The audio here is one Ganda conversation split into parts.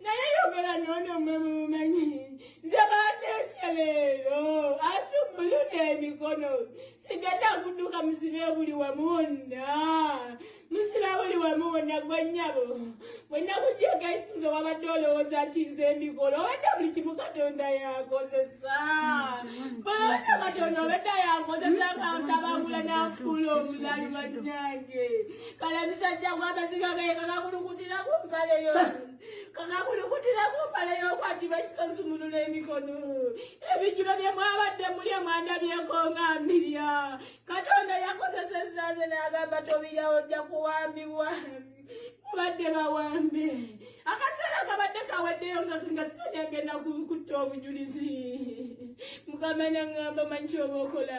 naye yogera nono mwe mumumanyi nze bandeese leero asumuluna emikono sigenda kuduka musibe buli wamu wonna musibe buli wamu wonna gwe nnyabo bwenna kujjako esinza wabadde olowooza kinze emikola obadde buli kimu katonda yakozesa bwewona katonda obadde yakozesa kantabangula nafuula omulali bannange kala emisajja gw'amaziga gaye kakakulukutira ku mpale yo kakakulukutira ku mpale y'okwatiba ekisozi munula emikono ebijjulo bye mwabadde muli emwanda byekonga mbirya katonda yakozesezza nze n'agamba tobirya ojja kuwambibwa mubadde bawambe akaseera kabadde kaweddeyo nga sitani agenda kutta obujulizi mukama nangamba manyi kyoba okola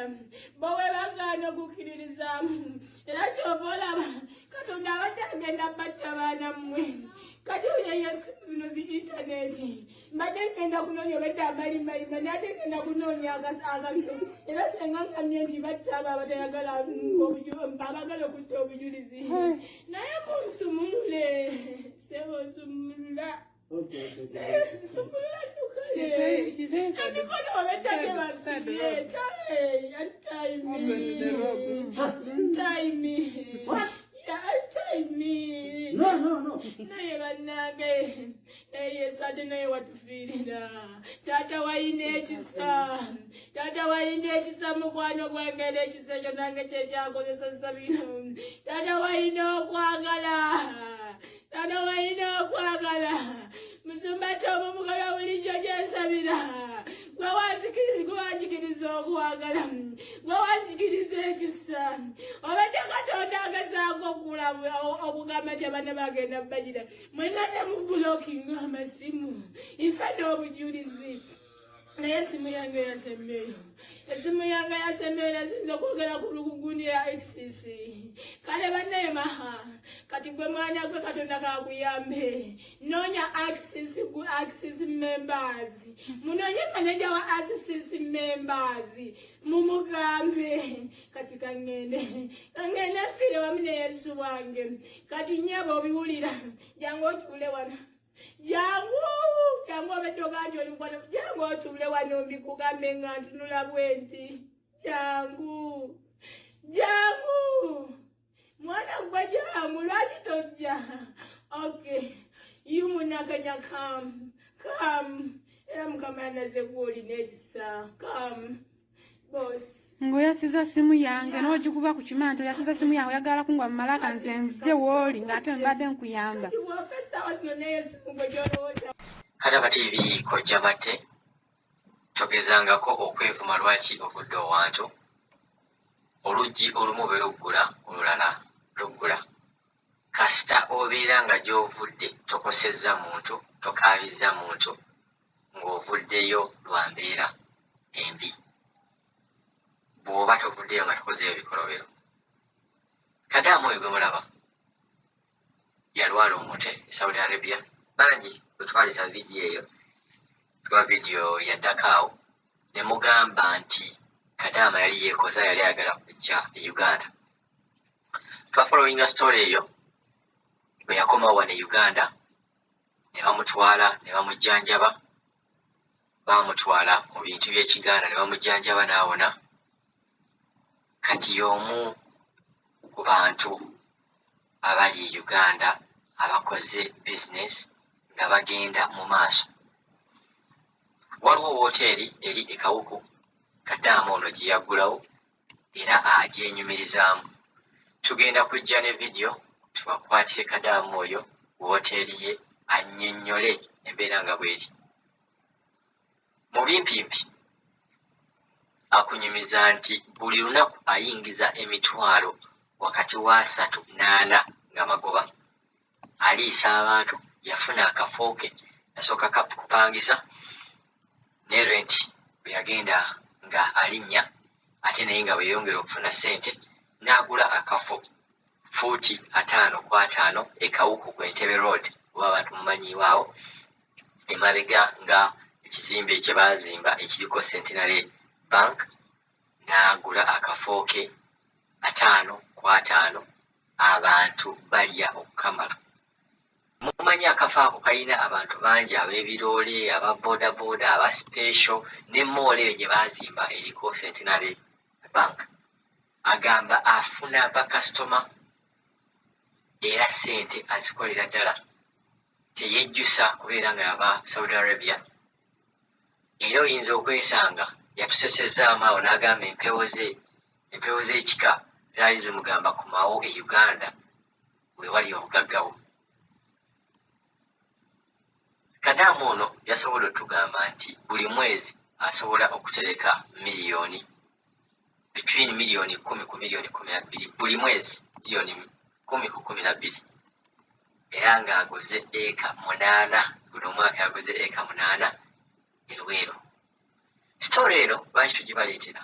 bawebagaana okukkiririzaamu era kyova olaba katonda abadde agenda batta baana mmwe kati oyo yesu zino zi intaneti mbadde ngenda kunoonya obadde amalimbalimba nadde ngenda kunoonya akaso era senga ngamye nti batta abo abatayagala abagala okutta obujulizi naye munsumulule sebonsumulula naye bannange yesu ate naye watufiirira taata wayina ekisa taata wayina ekisa mukwano gwange n'ekisa ekyo nange kyekyakozesa nsabino taata wayina okwagala Bano balina okwagala musumba Tomu mukola bulijjo gyensabira gwe wanzikiriza okwagala gwe wanzikiriza ekisa obadde katonda agezaako okugula okugamba nti abana bagenda bagira mwena ne mu bulokinga amasimu nfa n'obujulizi naye esimu yange yasembeyo esimu yange yasembeyo nasinza okwogera ku lukugundi ya xcc kale banaye maha kati gwe mwana gwe katonda kakuyambe nonya xcc gu xcc members munonye maneja wa xcc members mumugambe kati kangende kangende fire wamine yesu wange kati nyebo obiwulira jangu okiwule wana jangu jangu obedde ogamba ti oli mukwano jangu otuule wano mbikugambe nga ntunula bwenti jangu jangu mwana gwe jangu lwaki tojja okay yu munakanya kam kam era mukama yanaze gwolina ekisa kam ng'oyasiza simu yange n'ogikuba ku kimanto yasiza simu yange oyagala kungwa mu malaka nze nzije wooli ng'ate mbadde nkuyamba kati abatiibi kojja matte togezangako okwevuma lwaki ovudde owantu oluggi olumu be luggula olulala luggula Kasita obeera nga gy'ovudde tokosezza muntu, tokaabizza muntu ng'ovuddeyo lwa mbeera embi, bw'oba tovuddeyo nga tokozeeyo bikolobero. Kadaama oyo gwe mulaba yalwala omutwe e Saudi Arabia. Bangi bwe twaleeta vidiyo eyo, tuba vidiyo yaddako awo ne mugamba nti Kadaama yali yeekoza, yali ayagala kujja e Uganda. twafolowinga story eyo bwe yakoma wano e uganda ne bamutwala ne bamujjanjaba baamutwala mu bintu by'ekiganda ne bamujjanjaba n'awona kati y'omu ku bantu abali e uganda abakoze bizinesi nga bagenda mu maaso waliwo wooteeri eri e kawuku kadaama ono gye yaggulawo era agyenyumirizaamu. Tugenda kujja ne vidiyo tubakwatire Kadaama oyo ku wooteeri ye annyonnyole embeera nga bw'eri. Mu bimpimpi akunyumiza nti buli lunaku ayingiza emitwalo wakati w'asatu n'ana nga magoba aliisa abantu yafuna akafo ke yasooka kupangisa ne renti bwe yagenda nga alinnya ate naye nga bwe yeyongera okufuna ssente n'agula akafo fuuti ataano ku ataano e Kawuku ku Entebbe Road oba abantu mumanyiiwo awo emabega nga ekizimbe kye baazimba ekiriko Centenary Bank n'agula akafo ke ataano ku ataano abantu balya okukamala. Mumanyi akafo ako kalina abantu bangi ab'ebiroole, aba bodaboda, aba special ne moolo eyo gye baazimba eriko Centenary Bank. Agamba afuna bakasitoma era ssente azikolera ddala teyejjusa kubeera nga yava Saudi Arabia. era oyinza okwesanga yatusesezzaamu awo n'agamba empewo ze empewo z'ekika zaali zimugamba kumawo e uganda wewali obugagga bwo kadaamu ono yasobola otugamba nti buli mwezi asobola okutereka miliyoni between million kumi ku million kumi nabbiri buli mwezi million kumi ku kumi nabbiri era nga aguze eka munaana guno omwaka yaguze eka munaana erweero story eno lwaki tugibaleetera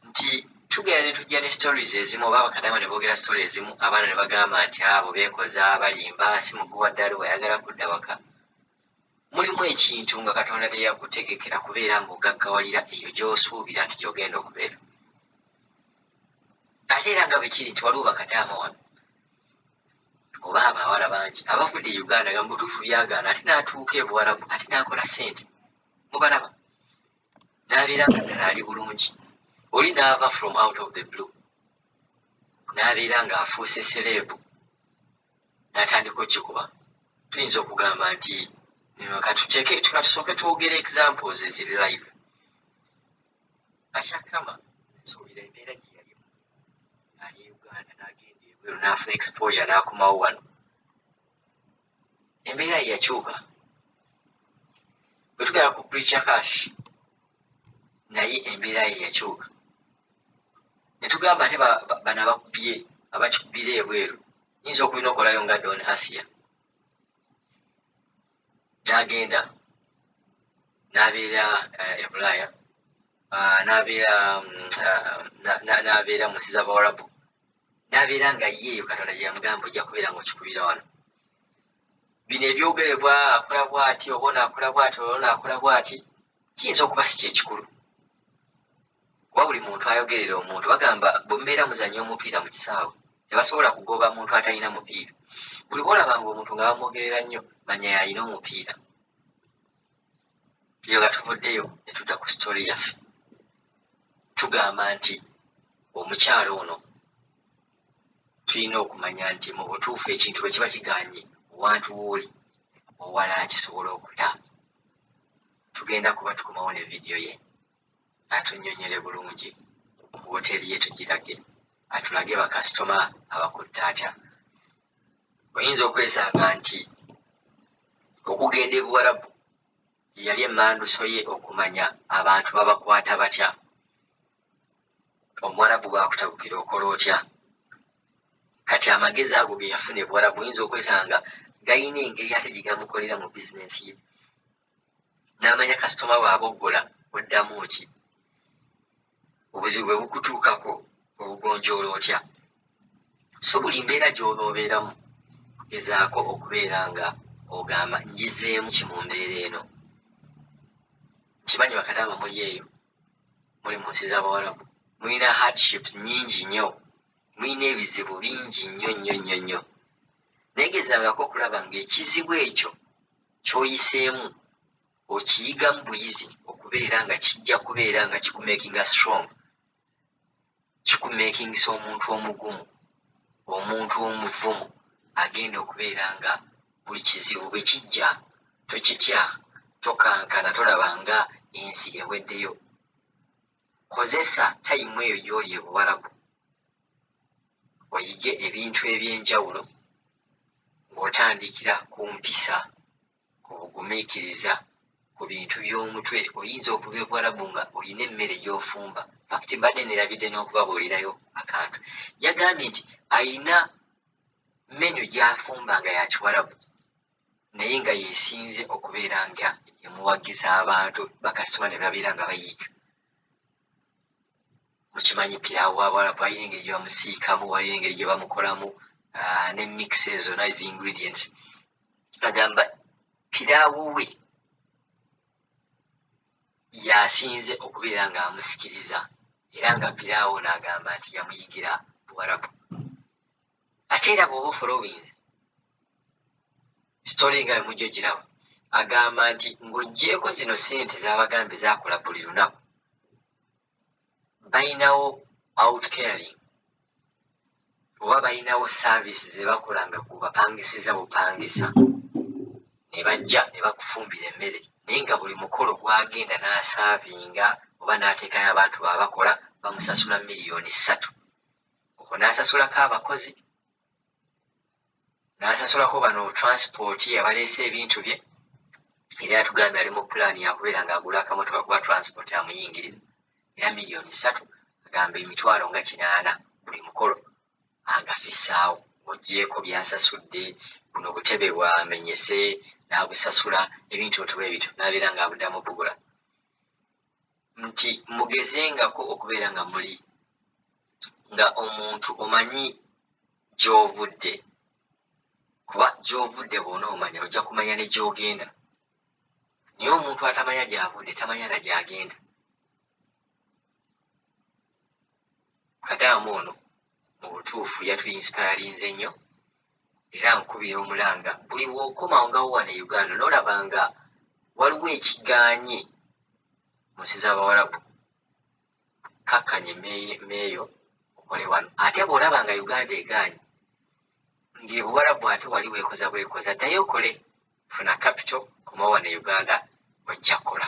nti tugenda ne tujja ne stories ezimu oba bakadama ne boogera story ezimu abaana ne bagamba nti abo beekoza balimba si muguwa ddala wayagala kudda waka Mulimu ekintu nga Katonda bye yakutegekera kubeera ng'ogaggawalira eyo gy'osuubira nti gy'ogenda okubeera. Ate era nga bwe kiri nti waliwo bakadaama wano oba abawala bangi abavudde e Uganda nga mu butuufu byagaana ate n'atuuka e Buwarabu ate n'akola ssente. Mubalaba? N'abeera nga ddala ali bulungi. Oli n'ava from out of the blue n'abeera ng'afuuse sereebu. natandika okikuba tuyinza okugamba nti katuteke katusooke twogere examples eziri live ashakama nsuubira embeera gye yalimu ali e uganda n'agenda ebweru n'afuna exposure n'akomawo wano embeera ye yakyuka bwe tugenda ku preacher cash naye embeera ye yakyuka ne tugamba ate bano abakubye abakikubira ebweru nyinza okubinokolayo nga don asia nagenda nabeera eh, ebulaaya ah, nabeera mm, ah, nabeera munsi zabawarabu nabeera nga ye eyo katonda gyeyamugamba ojja kubeera nga okikubira wano bino ebyogerebwa akola bwati oba onaakola bwati olwo naakola bwati kiyinza okuba si kyekikulu kuba buli muntu ayogerera omuntu bagamba bwemubeera muzanya omupiira mu kisaawe tebasobola kugoba muntu atalina mupiira buli bwolabanga omuntu nga bamwogerera nnyo manya yalina omupiira eyo nga tuvuddeyo netudda ku sitole yaffe tugamba nti omukyalo ono tulina okumanya nti mu butuufu ekintu bwe kiba kiganye owantu wooli owalala kisobola okuta tugenda kuba tukomawo ne vidiyo ye atunnyonnyole bulungi ku wooteeri ye tugirage, atulage bakasitoma abakutte atya. Oyinza okwesanga nti okugenda e Buwarabu ye yali emmanduso ye okumanya abantu babakwata batya. Omuwarabu bw'akutabukira okola otya? Kati amagezi ago ge yafuna e Buwarabu oyinza okwesanga galina engeri ate gye gamukolera mu bizinensi ye. n'amanya kasitoma bw'aboggola oddamu ki obuzibu bwe bukutuukako obugonjoola otya so buli mbeera gy'onoobeeramu gezaako okubeera nga ogamba njizeemu ki mu mbeera eno kimanyi bakadaama muli eyo muli mu nsi z'abawalabu mulina hardships nyingi nnyo mulina ebizibu bingi nnyo nnyo nnyo nnyo naye gezangako okulaba ng'ekizibu ekyo kyoyiseemu okiyigamu buyizi okubeera nga kijja kubeera nga kikumakinga strong kikumakingisa omuntu omugumu omuntu omuvumu agenda okubeera nga buli kizibu bwe kijja tokitya tokankana tolaba nga ensi eweddeyo kozesa tayimu eyo gyoli ebuwalabu oyige ebintu eby'enjawulo ng'otandikira ku mpisa ku bugumiikiriza ku bintu by'omutwe oyinza okuva ebuwalabu nga olina emmere gy'ofumba fakti mbadde nerabidde n'okubabuulirayo akantu yagambye nti alina menyu gy'afumba nga yakiwalabu naye nga yesinze okubeera nga emuwagiza abantu bakasitoma ne babeera nga bayiika mukimanyi pilawo wabawala balina engeri gyebamusiikamu balina engeri gyebamukolamu ah, ne mix ezo nice ingredients agamba pilawo we yasinze okubeera nga amusikiriza era nga pilawo naagamba nti yamuyigira buwarabu ate era bwoba ofolowinze sitole nga mujja ogirawo agamba nti ng'oggyeeko zino ssente zabagambye zakola buli lunaku balinawo outcaring oba balinawo saavisi ze bakola nga gubapangisiza bupangisa ne bajja ne bakufumbira emmere naye nga buli mukolo gwagenda n'asaavinga oba n'ateekayo abantu baabakola bamusasula miliyoni ssatu okwo n'asasulako abakozi n'asasulako bano transipooti abaleese ebintu bye era yatugambye ali mu pulaani yakubeera ng'agula akamotoka kuba transipooti amuyingirira era miliyoni ssatu agamba emitwalo nga kinaana buli mukolo angafissaawo ogyeko byasasudde buno butebe bwamenyese n'abusasula ebintu ntu bwe bityo n'abeera ng'abudamu bugula nti mugezengako okubeera nga muli nga omuntu omanyi gy'ovudde kuba gy'ovudde bwona omanya ojja kumanya ne gy'ogenda naye omuntu atamanya gy'avudde tamanya na gy'agenda kadaamu ono mu butuufu yatuinsipayalinze nnyo era nkubira omulanga buli wokoma ngawo wano e uganda nolaba nga waliwo ekiganye mu nsi z'abawalabu kakkanye meeyo okole wano ate bw'olaba nga uganda eganye ng'ebuwalabu ate wali weekoza bwekoza ddayo okole funa capital koma wano e uganda ojja kukola